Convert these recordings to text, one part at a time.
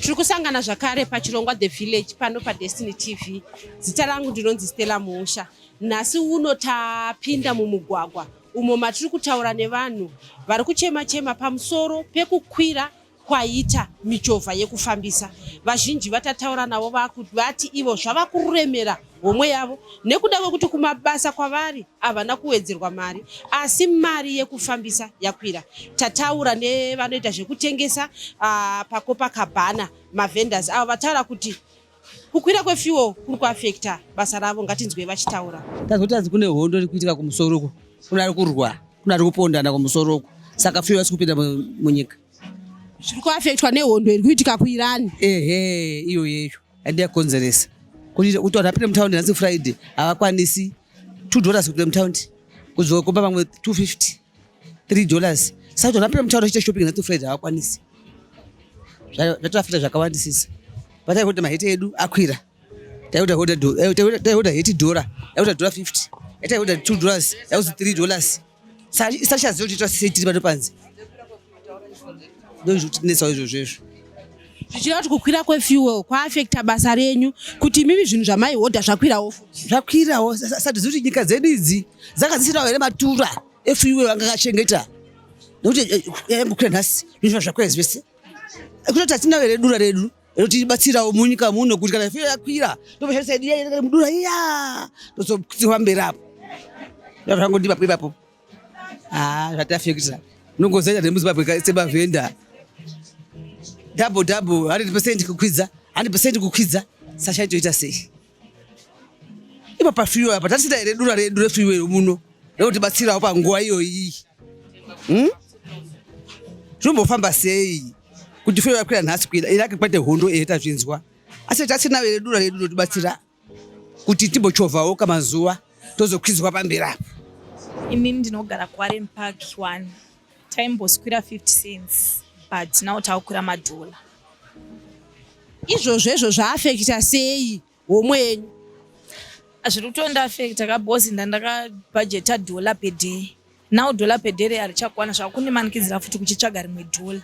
tiri kusangana zvakare pachirongwa the village pano padestiny tv zita rangu ndinonzi stella musha nhasi uno tapinda mumugwagwa umo matiri kutaura nevanhu vari kuchema chema pamusoro pekukwira kwaita michovha yekufambisa vazhinji vatataura navo vati ivo zvava kuremera homwe yavo nekuda kwekuti kumabasa kwavari havana kuwedzerwa mari asi mari yekufambisa yakwira tataura nevanoita zvekutengesa uh, pakopakabhana mavendors avo vataura kuti kukwira kwefuel kuri kuafekta basa ravo ngatinzwei vachitaura tazoti anzi kune hondo iri kuitika kumusoro uko kune ari kurwa kune ari kupondana kumusoro uko saka fuel asi kupinda munyika zviri kuafektwa nehondo iri kuitika kuirani ehe iyo yecho and yakonzeresa kuti kuti vanhu apinde mutaundi nhasi friday havakwanisi two dollars kupinda mutaundi kuzokomba vamwe two fifty three dollars saka kuti vanhu apinde mutaundi vachiita shopping nhasi friday havakwanisi zvatovafita zvakawandisisa patai kuti maheti edu akwira taiuda heti dhora yaiuda dhora fifty yataiuda two dollars yauzi three dollars sachaziva kuti tose tiri pano panze ndozvikutinetsawo izvozvo izvo zvichireva kuti kukwira kwefuel kwaafekta basa renyu kuti imimi zvinhu zvamaihodha zvakwirawo zvakwirawo satizivi kuti nyika dzedu idzi dzanga dzisirawo here matura efuel anga akachengeta nekuti eh, eh, yangokwira nhasi zvinhu zvakwira zvese eh, kutoti hatina here dura redu inotibatsirawo munyika muno kuti kana firo yakwira tobashandisa yedu iya mudura iya tozokutsirwa mberi apo zvangondipa ipapo ha zvatafekita nongozaita nemuzimbabwe sebavhenda double double 100 percent kukwidza 100 percent kukwidza sasha itoita sei ipo pafiwe apa tatisita here dura redu refiwe muno rinotibatsirawo panguva iyoyi hmm? zvinombofamba sei kuti fiwe vakwira nhasi kuida irake kwete hondo ehe tazvinzwa asi tatinawo here dura redu rinotibatsira kuti timbochovhawo kamazuva tozokwidzwa pamberi apo imini ndinogara kuaren park one Taimboskwira 50 cents but now takukwira madhola. Izvozvo izvo zvaafekita sei homwe yenyu? Hazviri kutonda afekita kabozi ndandakabhajeta dhola per day now dhola per day reya richakwana zvakunimanikidzira futi kuchitsvaga rimwe dhola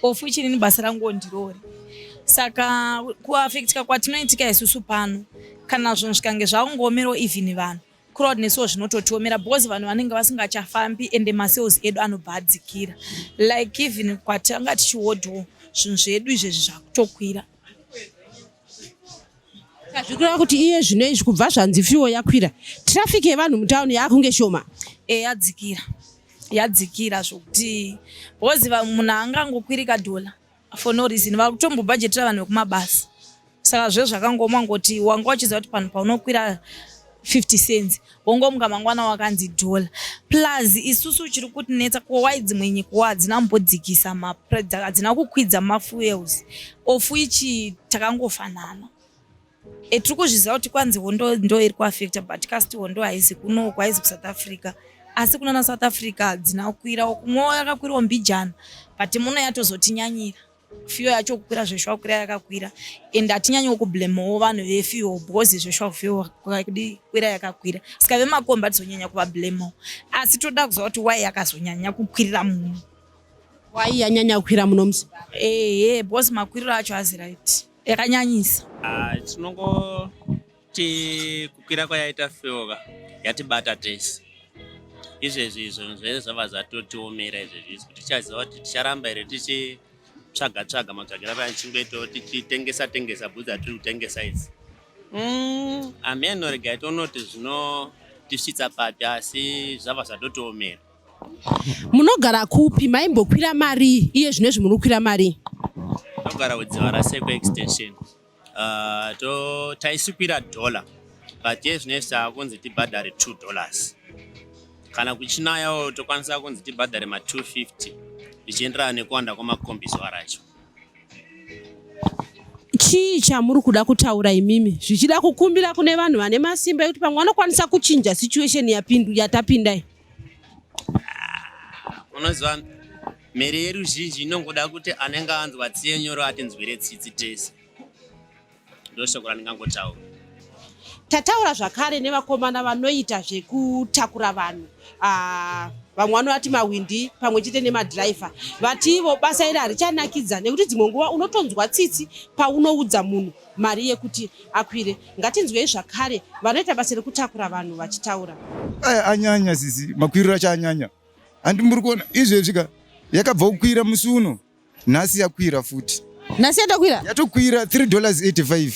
of which inini basa rangu ondirori saka kuafektika kwatinoitika isusu pano kana zvinhu zvikange zvakungoomerawo even vanhu crowd nesuwo zvinototiomera because vanhu vanenge vasingachafambi ende masales edu anobva adzikira like even kwatanga tichihodho zvinhu zvedu izvezvi zvakutokwira zvikureva kuti iye zvino izvi kubva zvanzi fiwo yakwira traffic yevanhu mutauni yaakunge shoma e yadzikira yadzikira zvokuti because munhu angangokwirika dhola for no reason vari kutombobhajetira vanhu vekumabasa saka zve zvakangoma ngoti wanga uchiziva kuti panhu paunokwira 50 cents wongomuka mangwana wakanzi dollar plus isusu chiri kutinetsa kowai dzimwe nyika wa hadzina mbodzikisa hadzina kukwidza mafuels ofu ichi takangofanana E, tiri kuzviziva kuti kwanzi hondo ndo iri kuafecta but kasti hondo haizi kuno kwaizi kusouth africa asi kuna na south africa hadzina kukwirawo kumwewo yakakwirawo mbijana but muno yatozotinyanyira fiyo yacho kukwira zveshuwa kukwira yakakwira and hatinyanyewo kublamewo vanhu vefiyo because zveshuwa kufiyo kudi kwira yakakwira saka vemakomba tizonyanya kuvablamewo asi toda kuziva kuti wai yakazonyanya kukwirira muno wai yanyanya kukwira muno musi ehe because makwiriro acho azi right yakanyanyisa ah, tinongoti kukwira kwayaita feoka yatibata tese izvezvi izvo zvee zvava zvatotiomera izvezvi izvi kuti tichaziva kuti ticharamba here tichitsvaga tsvaga matsvagira paya tichingoitawo tichitengesa tengesa bhudzi atiri kutengesa idzi mm, ameno regai tonoti zvinotisvitsa papi asi zvava zvatotiomera munogara kupi maimbokwira mari iye zvino izvi munokwira mari tinogara kudzivara seko extension uh, to taisikwira dollar but iye zvino izvi taakunzi tibhadhare two dollars kana kuchinayawo tokwanisa kunzi tibhadhare ma 250 zvichienderana nekuwanda kwemakombiso aracho chii chamuri kuda kutaura imimi zvichida kukumbira kune vanhu vane masimba ekuti pamwe vanokwanisa kuchinja situation yapindu yatapindai unoziva mhere yeruzhinji inongoda kuti anenge anzwa tsiye nyoro atinzwire tsitsi tese ndoshoko randingangotaura tataura zvakare nevakomana vanoita zvekutakura vanhu ah, vamwe vanovati mawindi pamwe chete nemadhiraivha vativo basa iri harichanakidza nekuti dzimwe nguva unotonzwa tsitsi paunoudza munhu mari yekuti akwire ngatinzwei zvakare vanoita basa rekutakura vanhu vachitaura aya eh, anyanya sisi makwiriro acho anyanya handi muri kuona izvezvi ka yakabva kukwira musi uno nhasi yakwira futi nhasi yatokwira yatokwira 3 dollars 85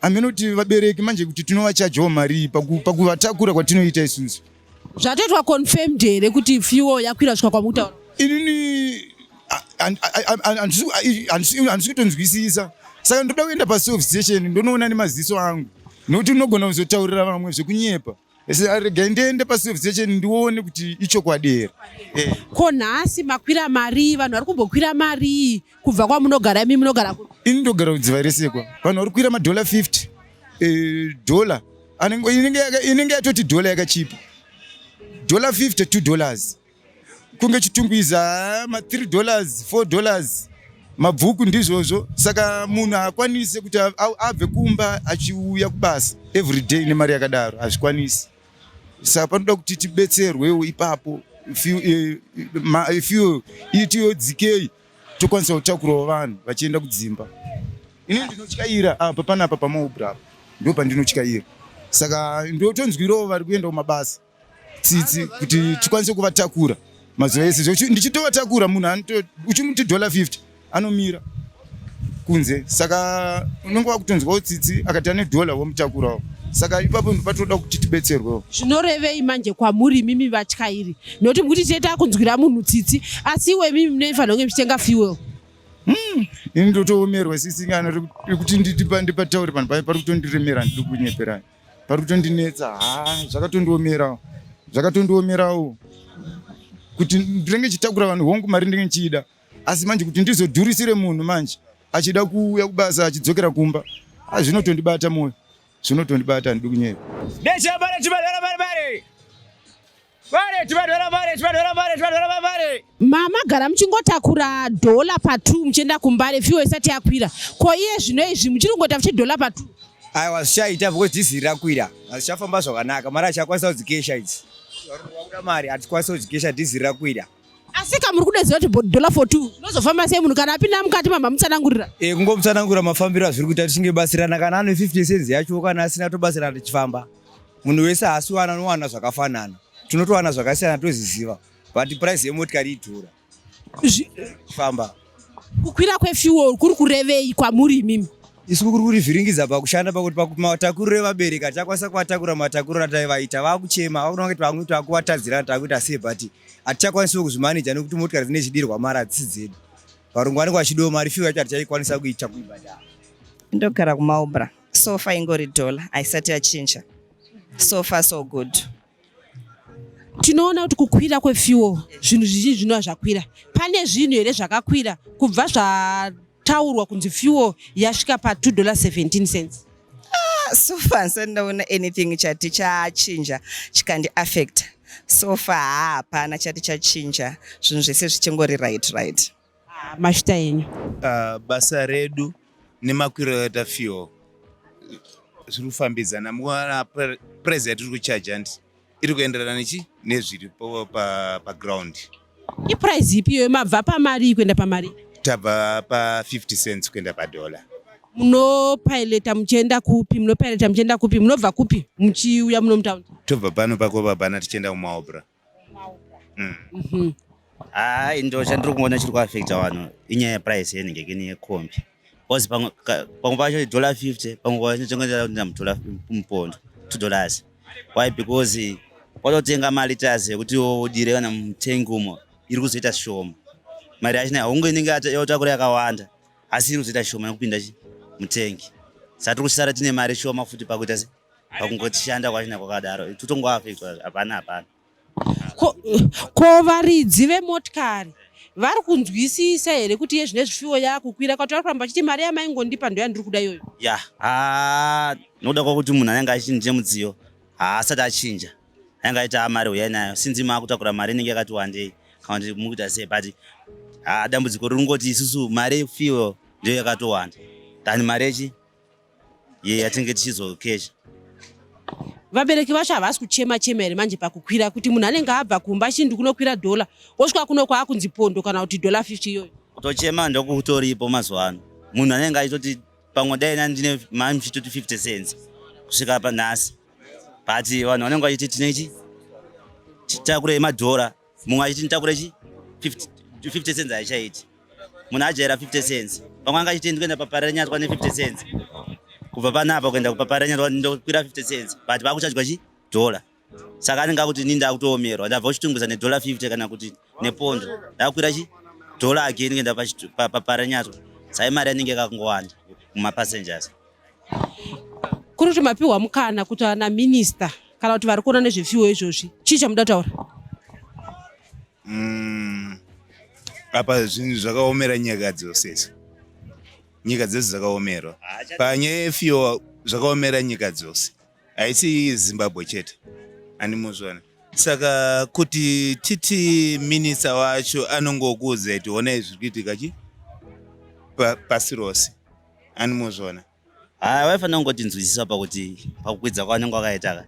ameno kuti vabereki manje kuti tinovachajawo mari pakuvatakura kwatinoita isusu zvatoitwa confirmed here kuti fuel yakwira svika kwamukutaura inini handisi kutonzwisisa saka ndoda kuenda pasof station ndonoona nemaziso angu nokuti unogona kuzotaurira vamwe zvekunyepa rega ndiende pasof station ndione kuti ichokwadi here eh. ko nhasi makwira marii vanhu vari kumbokwira marii kubva kwamunogara imi munogara ini ndogara kudziva rese kwa vanhu vari kuira madhola 50 eh, dhola inenge yatoti dhola yakachipa dhola 50 2 dollars kunge chitungwiza ah, ma 3 dollars 4 dollars mabvuku ndizvozvo saka munhu haakwanise kuti abve kumba achiuya kubasa every day nemari yakadaro hazvikwanisi saka panoda kuti tibetserwewo ipapo eh, eh, ifuel itiyodzikei tokwanisa kutakurawo vanhu vachienda kudzimba ini ndinotyaira apa ah, panapa pamaubra apa ndo pandinotyaira saka ndotonzwirawo vari kuenda kumabasa tsitsi kuti tikwanise kuvatakura mazuva ese ndichitovatakura munhu uchimuti dollar 50 anomira kunze saka unenge wakutonzwawo tsitsi akati ane dollar womutakurawo saka ipapo patoda kuti tibetserwewo zvinorevei manje kwamuri mimi vatyairi nokuti mukuti tete akunzwira munhu tsitsi asi iwe mimi munoifanira kunge muchitenga fuel hmm, ini ndotoomerwa sisingana rekuti ndipataure panhu paye pari kutondiremera ndiri kunyepera pari kutondinetsa ha zvakatondiomerawo zvakatondiomerawo kuti ndinenge chitakura vanhu hongu mari ndinenge ndichiida asi manje kuti ndizodhurisire munhu manje achida kuuya kubasa achidzokera kumba azvinotondibata moyo zvinotondibata handidi kunyepa Vale, tivadora vale, tivadora vale, tivadora vale, vale. Mama gara muchingotakura dollar pa 2 muchienda kumbare fuel isati yakwira. Ko iye zvino izvi muchiringoita fuchi dollar pa 2. Ayi wazvichaita because diesel rakwira. Azvichafamba zvakanaka. Mari achakwanisa kudzikesha idzi. Wakuda mari atikwanisa kudzikesha diesel rakwira. Asi ka muri kudeziva kuti dollar for 2 unozofamba sei munhu kana apinda mukati mamba mutsanangurira? Eh kungomutsanangura mafambiro azviri kuita tichinge basirana kana ane 50 cents yacho kana asina tobatsirana tichifamba. Munhu wese haasi wana anowana zvakafanana. Tinotowana zvakasiyana tozviziva. But price yemotikari idhura. Famba. Kukwira kwefuel kuri kurevei kwamuri imimi? isu kuri kurivhiringidza pakushanda pakuti pamatakuriro evabereki hatichakwanisa kuvatakura matakuriro ataivaita vakuchema vakuona kuti vamwe takuvatadzira takuita sei but hatichakwanisawo kuzvimaneja nekuti motikari dzine chidirwa mari hadzisi dzedu varungu vanenge vachidiwa mari fiwa yacho hatichaikwanisa kuita kuibhadhara ndogara kumaubra so far ingori dollar haisati yachinja so far so good tinoona kuti kukwira kwefuel zvinhu zvizhinji zvinova zvakwira pane zvinhu here zvakakwira kubva zvataurwa kunzi fuel yasvika pa 2 dollar 17 cents ah, so far handisati ndaona anything chati chachinja chikandi affect so far hapana chati chachinja zvinhu zvese zvichingori right right Ah, mashita enyu ah, basa redu nemakwiro yaita fuel zviri kufambidzana mukuona price yatiri kuchaja handi iri kuenderana nechi nezviri paground pa iprice ipi iyoyo mabva pamari kuenda pamari tabva pa50 cents kuenda padollar munopaileta muchienda kupi munopaileta muchienda kupi munobva kupi muchiuya muno mutaundi tobva pano pakobabana tichienda kumaobra mm. mhm. hayi nto chandiri kuona chiri kuafecta vanhu inyaya yeprice yenenge kini yekombi bcause pamwe pacho idollar 50 pamwe pacho chongoenda mudollar mupondo two dollars why because kwatotenga mari tazi yekuti udire kana mutengi umo iri kuzoita shoma mari yacho naunge inenge yotakura yakawanda asi iri kuzoita shoma nekupinda mutengi satiri kusara tine mari shoma futi pakuita pakungoshanda kwachina kwakadaro tutongoafektwa hapana hapana ko varidzi vemotikari vari kunzwisisa here kuti iye zvine zvifiwo yakukwira kwati vari kuramba vachiti mari yamaingondipa ndo yandiri kuda iyoyo ya ha nokuda kwakuti munhu anenge achinje mudziyo haasati achinja anenge aita mari huyai nayo sinzi maakutakura mari inenge yakati wandei kana kuti mukuita sei but ha dambudziko riri kungoti isusu mari yefiwo ndiyo yakatowanda than mari yechi yeah, yatinge tichizokesha vabereki vacho havasi kuchema chema here manje pakukwira kuti munhu anenge abva kumba chii ndikunokwira dhola wosvika kuno kwaakunzi pondo kana kuti dhola 50 iyoyo kutochema ndokutoripo mazuva ano munhu anenge aitoti pamwe dai na ndine mami chitoti 50 cents kusvika panhasi but vanhu vanenge vachiti tinechi titakure madhora mumwe achiti nditakure chi 50 cents haichaiti munhu ajaira 50 cents vamwe anga achiti ndikuenda paparanyatwa ne 50 cents kubva panapa kuenda kupaparanyatwa ndokwira 50 cents but vakuchajwa chi dollar saka anenge akuti ini ndakutoomerwa ndabva kuchitunguza nedollar 50 kana kuti nepondo ndakwira chi dollar again kuenda paparanyatwa sai mari yanenge yakangowanda mumapassengers kuri kuti mapiwa mukana kuti ana minista kana kuti vari kuona nezvefiwo izvozvi chii chamuda kutaura mm, apa zvinhu zvakaomera nyika dzose izi nyika dzose dzakaomerwa panyaya yefiwo zvakaomera nyika dzose haisi zimbabwe chete andimuzvona saka kuti titi minista wacho anongokuudza kuti honai zviri kuitika chi pasi rose and mozviona haa vaifanira kungotinzwisisa pakuti pakukwidza kwavanenge wakaitaka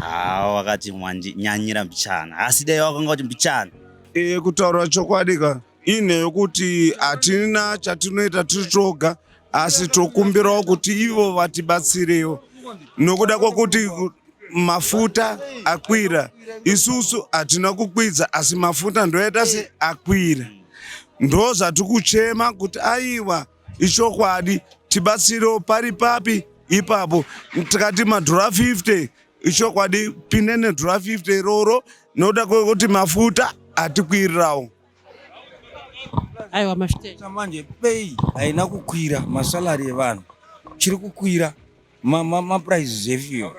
haa wakati wandinyanyira mbichana asi dai wakanga kuti mbichana e, kutaura chokwadi ka ine yokuti hatina chatinoita tiri toga asi tokumbirawo kuti ivo vatibatsirewo nokuda kwokuti mafuta akwira isusu hatina kukwidza asi mafuta ndoita se akwira ndozvatikuchema kuti aiwa ichokwadi tibatsirewo pari papi ipapo tikati madhora 50 ichokwadi pinde nedhora 50 iroro nokuda kwekuti mafuta atikwirirawo aiwa manje pei haina kukwira masalari evanhu chiri kukwira mapuraizi zvefiyo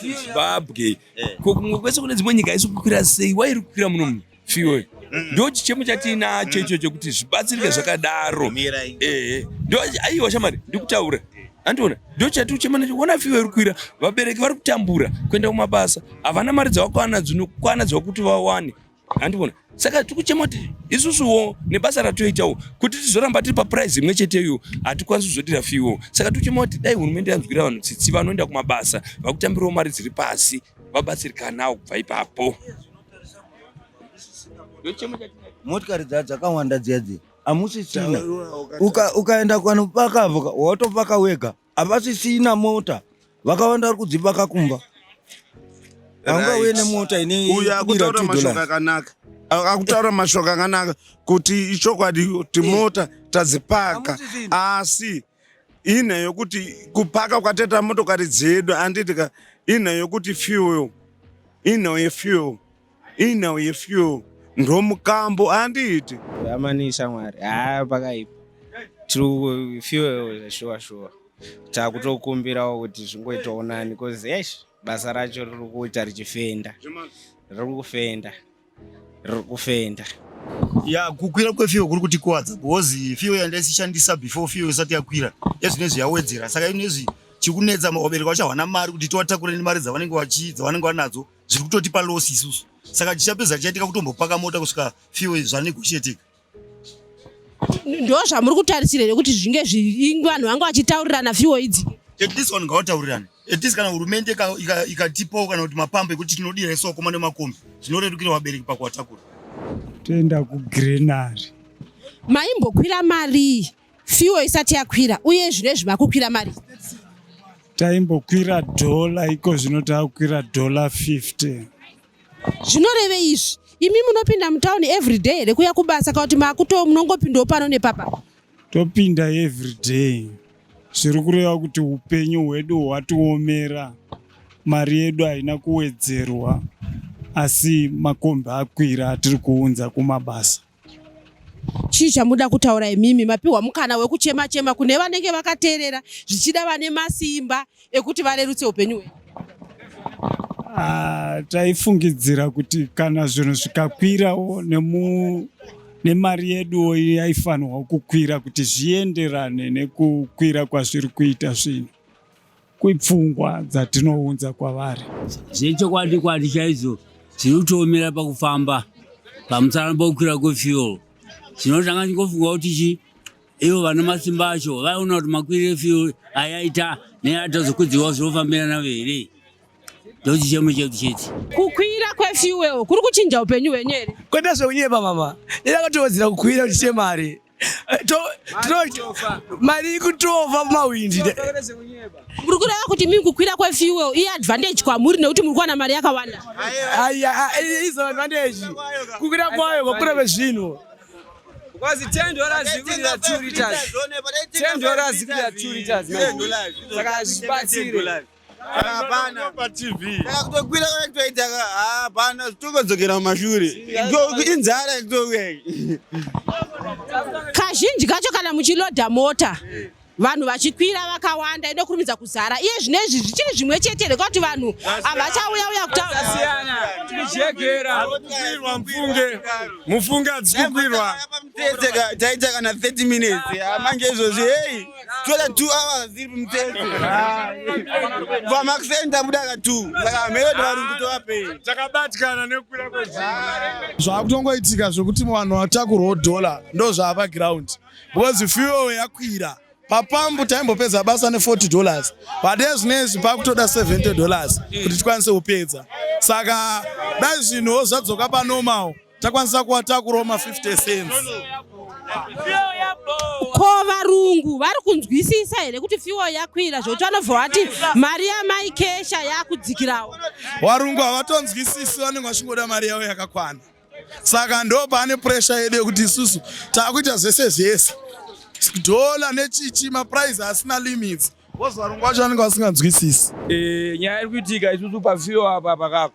zimbabwe eh. ko kumwe kwese kune dzimwe nyika isi kukwira sei wairi kukwira muno mu fiyo mm. ndo chichemo chatiinacho mm. icho chekuti zvibatsirike zvakadaro ehe ndo aiwa shamari ndikutaura andiona ndo chati uchema nacho ona fiyo iri kukwira vabereki vari kutambura kuenda kumabasa havana mari dzavakwana dzinokwana dzakuti vawane handivona saka tiri kuchema kuti isusuwo nebasa ratoitawo kuti tizoramba tiri paprize imwe cheteyo hatikwanisi kuzodira fiwo saka tiri kuchema kuti dai hurumende yanzwira vanhu tsitsi vanoenda kumabasa vakutambirawo mari dziri pasi vabatsirikanawo kubva ipapo motikari dza dzakawanda dziya dziya hamusisina ukaenda uka, kwano pakavoka watopaka wega havasisina mota vakawanda vari kudzipaka kumba haungauye nemota ineuyakutauraakanaka akutaura mashoko akanaka kuti ichokwadi kuti eh. mota tadzipaka asi ina yokuti kupaka kwateta motokari dzedu anditi ka ina yokuti fuel ina yefuel Inhau yefuel ndomukambo handiti amani shamwari haa pakaipa tiri fuel zvashuwa shuwa takutokumbirawo kuti zvingoitawo nani bcause esh basa racho riri kuita richifenda riri kufenda riri kufenda ya kukwira kwefiyo kuri kutikuwadza because fiyo yandaisishandisa before fiyo isati yakwira ezvinezvi yawedzera saka inezvi chikunetsa vabereki vachawana mari kuti tiwatakureni mari dzavanenge vachi dzavanenge vanadzo zviri kutotipa loss isusu saka tichapedza tichaitika kutombopaka mota kusvika fuel zvanegotiatika ndo zvamuri kutarisira here kuti zvinge vanhu vange vachitaurirana fiwo idzi at least vanhu ngavataurira at least kana hurumende ikatipawo kana kuti mapambo ekuti tinodira isu vakoma nemakombi zvinorerukira vabereki pakuvatakura toenda kugrenary maimbokwira marii Fuel isati yakwira uye zvinezvi makukwira mari. Taimbokwira dollar iko zvino takukwira dollar 50. Zvinoreve izvi imi munopinda mutown every day here kuya kubasa kana kuti makuto munongopindawo pano nepapa? Topinda every day. Zviri kureva kuti upenyu hwedu hwatiomera mari yedu haina kuwedzerwa asi makombi akwira atiri kuunza kumabasa. chii chamuda kutaura imimi mapiwa mukana wekuchema chema kune vanenge vakateerera zvichida vane masimba ekuti varerutse upenyu hwedu ah, taifungidzira kuti kana zvinhu zvikakwirawo nemu nemari yeduwo yaifanirwa kukwira kuti zvienderane nekukwira kwazviri kuita zvinhu kwepfungwa dzatinounza kwavari. Zvechokwadi kwadi chaidzo dziri kutoomera pakufamba pamusana pokukwira kwefuel chinotanga chingofunga kuti chi ivo vane masimba acho vaiona kuti makwiri efuel ayaita neatazokwidziwa zvinofambirana here ndokuti chemo chedu chete kukwira kwefuel kuri kuchinja upenyu hwenyu here kwete zvekunyepa mama ida kutowedzera kukwira kuti chemari mari ikutova mumahwindi muri kureva kuti mii kukwira kwefuel i advantage kwamuri nekuti muri kuwana mari yakawanda izo advantage kukwira kwayo kwakura vezvinhu Because 10 dollars zvikwirira 2 liters. 10 dollars zvikwirira 2 liters. Saka hazvibatsire. hapana patv takakutokwira kana kutoita hapana tokodzokera mumashure inzara kutouya kazhinji kacho kana muchiloda mota vanhu vachikwira vakawanda ine kurumidza kuzara iye zvine izvi zvichiri zvimwe chete here kuti vanhu havachauya uya kutaurwa mufunge mufunge adzikukwirwa taita kana 30 minutes manje izvozvi hei two than two hours iri mutete vamakuseni tabuda ka two saka mhero tivarungu tovapei takabatikana nekukwira kwezvinhu zvakutongoitika zvekuti vanhu vatakurwo dollar ndo zvaapa ground because fuel yakwira papambu taimbopedza basa ne 40 dollars but ezvinezvi pakutoda 70 dollars kuti tikwanise kupedza saka dai zvinhuwo zvadzoka panormal takwanisa kuvatakurawo ma 50 cents ko varungu vari kunzwisisa here kuti fiwo yakwira zvokuti vanobva vati mari yamai kesha yakudzikirawo varungu havatonzwisisi vanenge vachingoda mari yavo yakakwana saka ndo pane puresha yedu yekuti isusu takuita zvese zvese dhola nechichi mapuraizi asina limits vozvarungu vacho vanenge vasinganzwisisi eh, nyaya iri kuitika isusu pafiwo apa pakako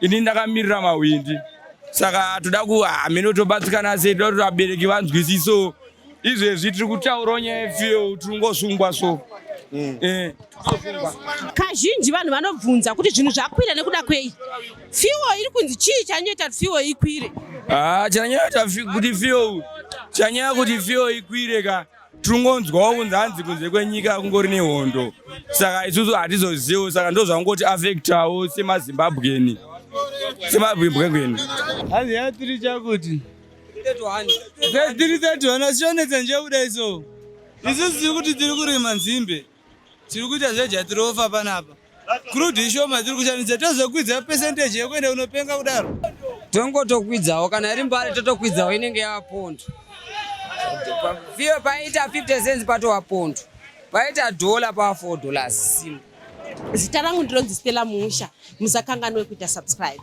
ini ndakamirira mahwindi saka toda ku hameno tobatsirikana sei toda kuti vabereki vanzwisiso izvezvi tiri kutaurawo nyaya yefiyeu tiri kungosungwa so mm. eh, kazhinji vanhu vanobvunza kuti zvinhu zvakwira nekuda kwei fiwo iri kunzi chii chanyoita kuti fiwo ikwire ah, chanyoita kuti fiwo chanyaya kuti fiwo ikwire ka tinongonzwawo kunzi hanzi kunze kwenyika kungori nehondo saka isusu hatizoziviwo saka ndozvangoti afektawo semazimbabweni semazimbabweni hanzi yatiri chakuti tiri tatiwana sionetsa nje kudai so isusu tiri kuti tiri kurima nzimbe Tiri kuita zvejatirofa panapa. Crude ishoma tiri kushandisa tozokwidza percentage yekuenda unopenga kudaro. Tongotokwidzawo kana iri mbare totokwidzawo inenge yava pondo. Viyo paita 50 cents patova pondo. Paita dollar pava 4 dollars simu. Zita rangu ndinonzi Stella Musha. Musakanganwe kuita subscribe.